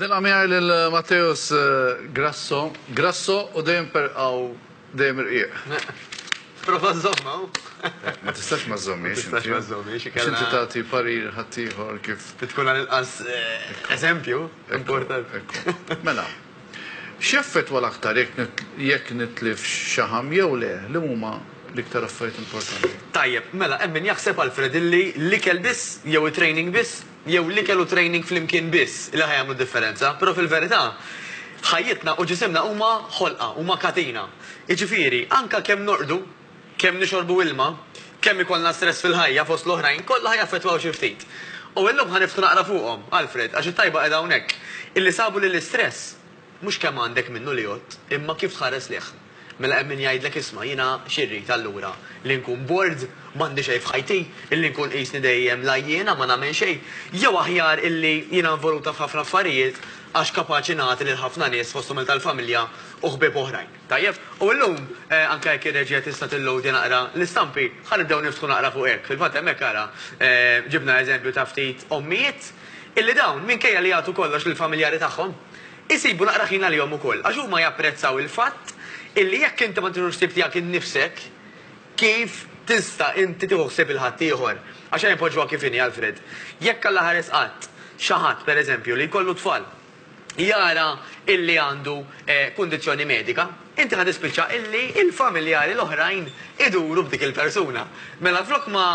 Nilqa' miegħi lil Matteus Grasso, Grasso u dejjem perqaw dejjem irqiq. Prova żommha u. Ma tistax ma żommhiex. Tistax ma żommhiex. Għax inti tagħti parir ħaddieħor kif. Tkun għal inqas eżempju importanti. Mela, x'jaffettwa l-aktar jekk nitlifx xi ħamm jew le? Li huma l-iktar affarijiet importanti? Tajjeb, mela hemm min jaħseb Alfred illi l-ikel biss jew it-training biss jew l-ikel u training flimkien biss li ħa jagħmlu d-differenza, però fil-verità, ħajjitna u ġisimna huma ħolqa, huma katina. Jiġifieri, anke kemm norqdu, kemm nixorbu ilma, kemm ikollna stress fil-ħajja, fost l-oħrajn, kollha ħa jaffettwaw xi ftit. U illum ħa niftħu naqra fuqhom, Alfred, għax it-tajba qiegħda hawnhekk, illi sabu li l-istress, Mhux kemm għandek minnu li għodt, imma kif tħares lejh. Mela hemm min jgħidlek isma' jiena xi rrid allura? Li nkun bord? M'għandi xejn f'ħajti? Illi nkun qisni dejjem l-għajjiena ma nagħmel xejn? Jew aħjar illi jiena involuta f'ħafna affarijiet għax kapaċi nagħti lil ħafna nies fosthom il-tal-familja u ħbieb oħrajn. Tajjeb, u illum, anke jekk ir-reġija tista' tilloadja naqra l-istampi, ħa nibdew niftħu naqra fuq hekk. Fil-fatt hemmhekk ara, ġibna eżempju ta' ftit ommijiet, illi dawn, minkejja li jagħtu kollox lill-familjari tagħhom, isibu naqra ħin għalihom ukoll, għax huma japprezzaw il-fatt illi jekk inti ma tiħux ħsieb tiegħek innifsek, kif tista' inti tieħu ħsieb il-ħaddieħor? Għax ejja npoġġuha kif inhi, Alfred. Jekk Alla ħares qatt xi ħadd, per eżempju, li jkollu tfal, jara illi għandu kundizzjoni medika, inti ħa tispiċċa illi l-familjari l-oħrajn iduru b'dik il-persuna. Mela flok ma.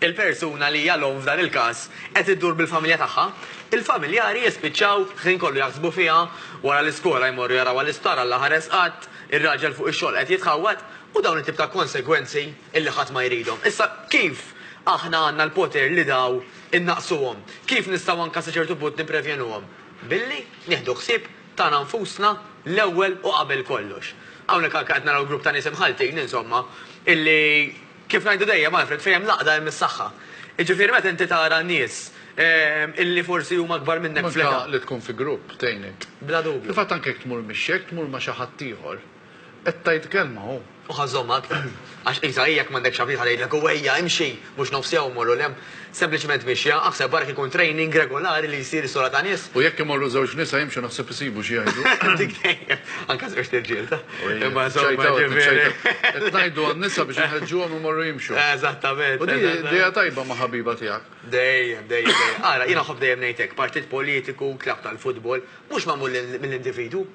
il-persuna li hija l-omm f'dan il-każ qed iddur bil-familja tagħha, il-familjari jispiċċaw ħin kollu jaħsbu fiha, wara l-iskola jmorru jaraw għall-isptar Alla ħares qatt, ir-raġel fuq ix-xogħol qed jitħawwad u dawn it-tip ta' konsegwenzi illi ħadd ma jridhom. Issa kif aħna għandna l-poter li dawn innaqqsuhom? Kif nistgħu anke sa ċertu punt nipprevjenuhom? Billi nieħdu ħsieb tagħna nfusna l-ewwel u qabel kollox. Hawnhekk anke qed naraw grupp ta' nies imħalltin insomma illi, Kif ngħidu dejjem, Alfred, fejn hemm l-għaqda hemm is-saħħa. Jiġifieri meta inti tara nies illi forsi huma akbar minnek fl-età. Anke li tkun fi grupp tgħinek. Bla dubju. Fil-fatt anke jekk tmur mixi, jekk tmur ma' xi ħadd ieħor, qed tgħid kelma hu. Hu ħa żżommha aktar. Għax qisha hi jekk m'għandekx ħabib ħa tgħidlek hu ejja imxi, mhux nofs siegħa u mmorru 'l hemm. Sempliċement mixja, aħseb wara kieku training regolari li jsir sola ta' nies. U jekk imorru żewġ nisa jimxu naħseb isibu xi jgħidu. Dik dejjem. Anke żewġt irġiel ta'. Imma insomma jiġifieri. Qed ngħidu għan-nisa biex inħeġġuhom imorru jimxu. Eżattament. U din idea tajba ma' ħabiba tiegħek. Dejjem, dejjem, dejjem. Ara, jiena nħobb dejjem ngħid hekk, partit politiku, klabb tal-futbol, mhux magħmul mill-individwu.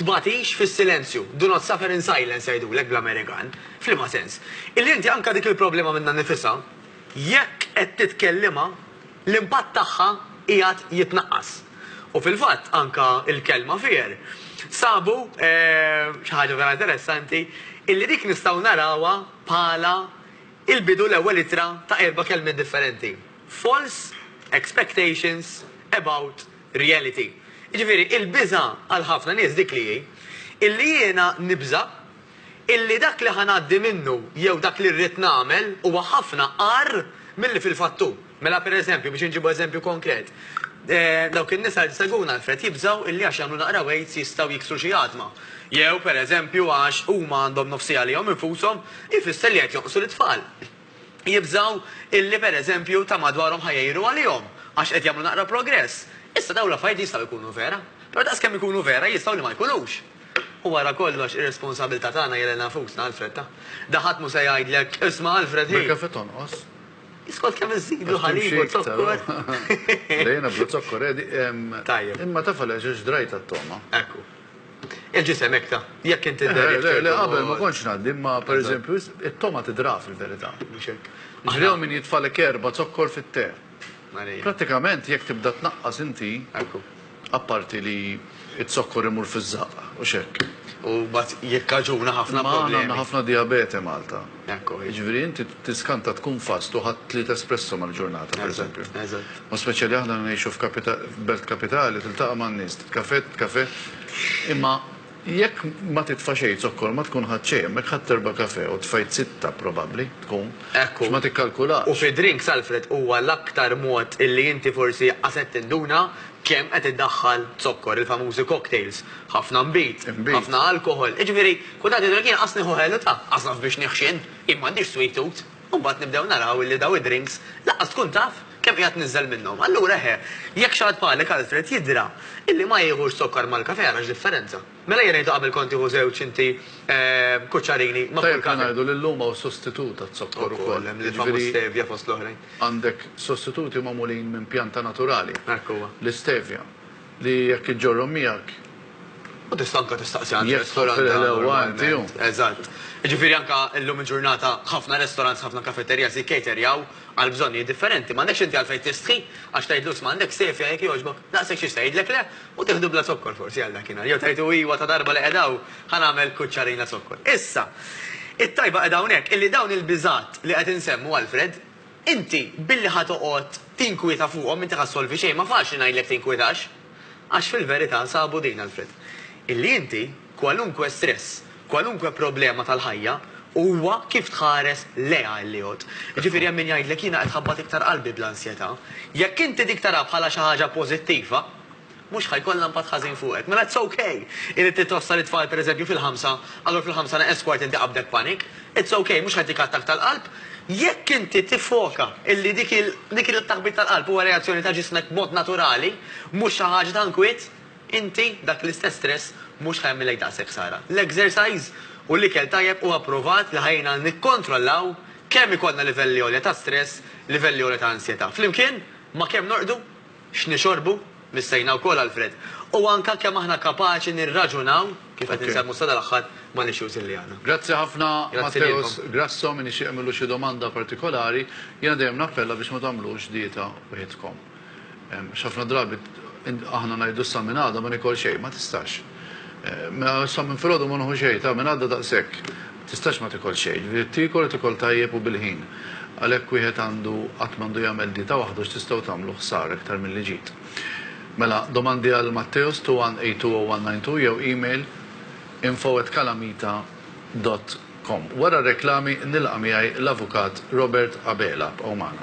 Tbagħtix fis-silenzju, do not suffer in silence jgħidulek bl-Amerikan. F'liema sens? Illi inti anke dik il-problema minnha nnifisha, jekk qed titkellimha, l-impatt tagħha qiegħed jitnaqqas. U fil-fatt anke l-kelma fear, sabu xi ħaġa vera interessanti, illi dik nistgħu narawha bħala l-bidu l-ewwel ittra ta' erba' kelmiet differenti, false expectations about reality. Jiġifieri, il-biża' għal ħafna nies dik li hi, illi jiena nibża' illi dak li ħa ngħaddi minnu jew dak li rrid nagħmel huwa ħafna agħar milli fil-fatt hu. Mela pereżempju, biex inġibu eżempju konkret, dawk in-nisa li jsegwuna Alfred jibżgħu illi għax jagħmlu naqra weights jistgħu jiksru xi għadma. Jew pereżempju għax huma għandhom nofsija għalihom infushom, ifisser li qed jonqsu lit-tfal. jibżgħu illi pereżempju ta' madwarhom ħa jgħiru għalihom għax qed jagħmlu naqra progress. Issa dawn l-affarijiet jistgħu jkunu vera, però daqskemm ikunu vera jistgħu li ma jkunux. U wara kollox ir-responsabilità tagħna hija lil nafusna, Alfred ta. Da ħadd mhu se jgħidlek, isma' Alfred hi. Bil-kafè tonqos. Skont kemm iżidlu ħalib u zokkor. Bdejna bla zokkor Edi. Tajjeb. Imma taf għaliex għax drajt għat-togħma. Ekku. Il-ġisem hekk ta. Jekk int idderrieh b'ċertu mod. Le, le, qabel ma kontx ngħaddi, imma per eżempju, it-togħma tidra fil-verità. Mhux hekk. Jiġifieri hawn min jitfagħlek erba' zokkor fit-te. Prattikament jekk tibda tnaqqas inti, apparti li z-zokkor imur fiż-żaqq, hux hekk? U mbagħad jikkaġuna ħafna problemi. Magħna għandna ħafna dijabete Malta. Ekku, jiġifieri inti tiskanta tkun fast u ħadt tliet espresso mal-ġurnata, pereżempju. Eżatt. U speċjali aħna li ngħixu f'belt kapitali, tiltaqa' man-nies, titkafè, titkafè, imma jekk ma titfa' xejn zokkor ma tkun ħadt xejn, hemmhekk ħadt erba' kafè u tfajt sitta probabbli tkun, għax ma tikkalkulax. U fid-drinks, Alfred, huwa l-aktar mod illi inti forsi qas qed tinduna kemm qed iddaħħal zokkor, il-famużi cocktails. ħafna nbid, ħafna alkoħol, jiġifieri kultant id-drink jien qas nieħu ħelu ta' qas naf biex niħxien, jien m'għandix sweet tooth, u mbagħad nibdew naraw illi dawn id-drinks lanqas tkun taf kemm qiegħed tniżżel minnhom. Allura eħe, jekk xi ħadd bħalek Alfred jidhra illi ma jiehux zokkar mal-kafè ara x'differenza. Mela jien ngħidu qabel kont tieħu żewġ inti kuċċarini ma' kull kafè. Tajjeb li ngħidu li llum hawn sostitut għaz-zokkor ukoll, hemm l-infamu stevia fost l-oħrajn. Għandek sostituti magħmulin minn pjanta naturali, l-istevia. li jekk iġġorrhom miegħek. U tista' anke tistaqsi għand restorant ta' normalment. Eżatt. Jiġifieri anke llum il-ġurnata ħafna restaurants, ħafna kafeterijas jikkaterjaw għal bżonnijiet differenti. M'għandekx inti għalfejn tistħi għax tgħidlu isma' għandek safia jekk jogħġbok, daqshekk x'jista' jgħidlek le u tieħdu bla zokkor forsi għal dakinhar. Jew tgħidlu iwa ta' darba li qegħed hawn ħa nagħmel kuċċarina zokkor. Issa, it-tajba qiegħda hawnhekk illi dawn il-biżgħat li qed insemmu Alfred, Inti, billi ħa toqgħod tinkwieta fuqhom, inti ħa ssolvi xejn, ma faċli ngħidlek tinkwietax. Għax fil-verità sabu din, Alfred, illi inti, kwalunkwe stress, kwalunkwe problema tal-ħajja, huwa kif tħares lejha illi jgħodd. Jiġifieri hemm min jgħidlek jiena qed tħabbat iktar qalbi bl-ansjetà. Jekk inti dik taraha bħala xi ħaġa pożittiva, mhux ħa jkollha impatt ħażin fuqek. Mela it's ok li tittossa lit-tfal pereżempju fil-ħamsa, allura fil-ħamsa neqes kwart inti qabdek panic. It's ok, mhux ħa jtik attakk tal-qalb. Jekk inti tiffoka li dik dik it-taħbit tal-qalb huwa reazzjoni ta' ġismek b'mod naturali, mhux xi ħaġa ta' nkwiet, inti dak l-istess stress mhux ħa jagħmillek daqshekk ħsara. L-exercise u l-ikel tajjeb huwa pprovat li ħa jgħinna nikkontrollaw kemm ikollna livelli għolja ta' stress, livelli għolja ta' ansjetà. Flimkien ma' kemm norqdu? x'nixorbu, mistejna wkoll għall-fred, u anke kemm aħna kapaċi nirraġunaw, kif qed insemmu sadal-aħħar, mal-issues li għandna. Grazzi ħafna Matteus Grasso, min jixtieq jagħmillu xi domanda partikolari, jiena dejjem nappella biex ma tagħmlux dieta wħidkom. Għax ħafna drabi aħna ngħidu issa minn għada ma nikol xejn, ma tistax. Mela issa minn filgħodu ma nieħu xejn, ta' minn għadda daqshekk. Ma tistax ma tikolx xejn. Ġifieri tiekol u tiekol tajjeb u bil-ħin. Għalhekk wieħed għandu qatt m'għandu jagħmel dieta waħdu x'tistgħu tagħmlu ħsara iktar milli ġid. Mela domandi għal Matteos 21820192 jew email info@calamita.com. Wara r-reklami nilqa' miegħi l-Avukat Robert Abela. Bqgħu magħna.